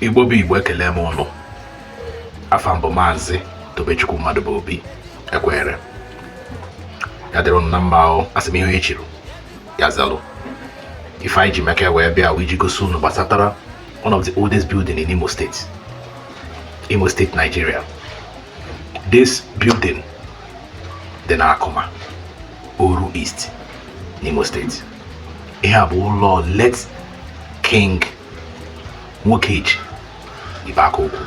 igbo bụ igbo ekele m ụnụ afa m bụ maazị tobechukwu mmadụbụobi ekwere ya dịrị ụnụ na mma o asị m ihe onye chiri ya zalụ ife anyị ji maka ya wee bịa wee ji gosi ụnụ gbasatara one of the oldest building in Imo State Imo State, Nigeria. This building dị n'Akụma, Oru East, n'Imo State. Ihe a bụ ụlọ late King Nwokeji Ibeakaokwu.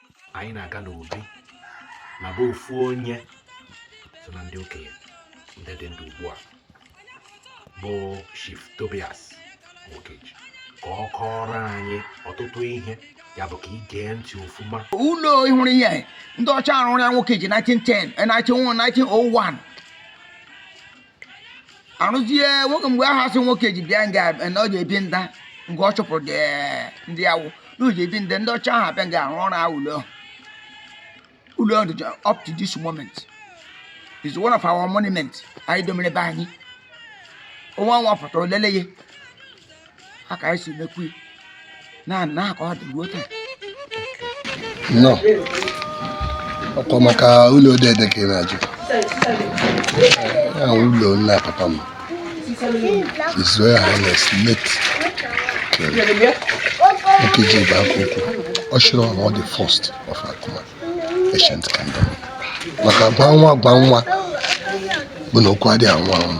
anyị na-aga n'obi na be ofu onye so na ndị okenye ndị dị ndụ ugbu a bụ Chief Tobias Nwokeji ka ọ kọọrọ anyị ọtụtụ ihe ya bụ ka ị gee ntị ofuma ụlọ ị hụrụ ihe ndị ọcha arụrụ ya Nwokeji 1910 1901 arụzie nwoke mgbe ahụ asị Nwokeji bịa nga na ọ ga-ebi nda nke ọ chụpụrụ ndị awụ na o ji ebi nda ndị ọcha ahụ abịa nga arụ ọrụ ahụ ụlọ ụlọ ọdụ dị up to this moment is one of our monument anyị domere be anyị onye ọwụna pụta o lele ya a ka anyị si mekwu na na ka ọ dị ruo taa nnọọ ọkwa maka ụlọ dede ka ị na-ajụ ya ụlọ nna papa m His Royal Highness late Nwokeji Ibeakaokwu Oshiro Ono the first of Akuma ancient kingdom maka gwa nwa gwa nwa bụ na okwu adịghị anwụ anwụ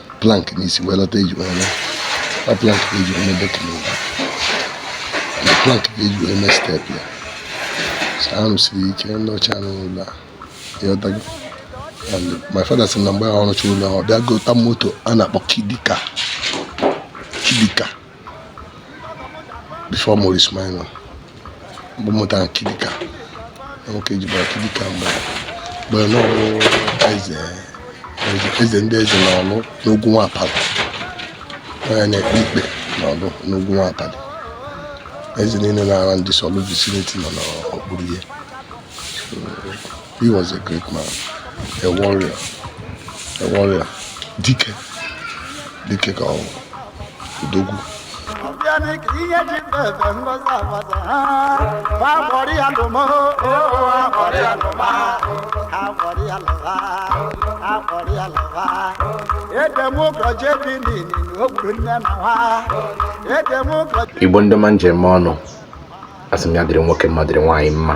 plank n'isi wee lọta eji wee laa ọ plank ka eji wee mebe kiliva na plank ka eji wee mee step ya arụsiri ike ndị ọcha rụrụ ụlọ a ịghọtago and my father sị na mgbe ahụ ọ rụcha ụlọ ọ bịa gota moto a na-akpọ kit car kit car before Morris Minor bụ moto kit car Nwokeji bara kit car mgbe mgbe n'Oru eze eze ndị eze na ọlụ n'ogwu nwa apalị onye na-ekpe ikpe na ọlụ n'ogwu nwa apalị eze niile na around this Orlu vicinity nọ n'okpuru ya He was a great man, a warrior, a warrior. Dike, dike ka ọ bụ odogwu. Igbo ndị ọma m ji eme ọnụ asị m ya dịrị nwoke mma dịrị nwaanyị mma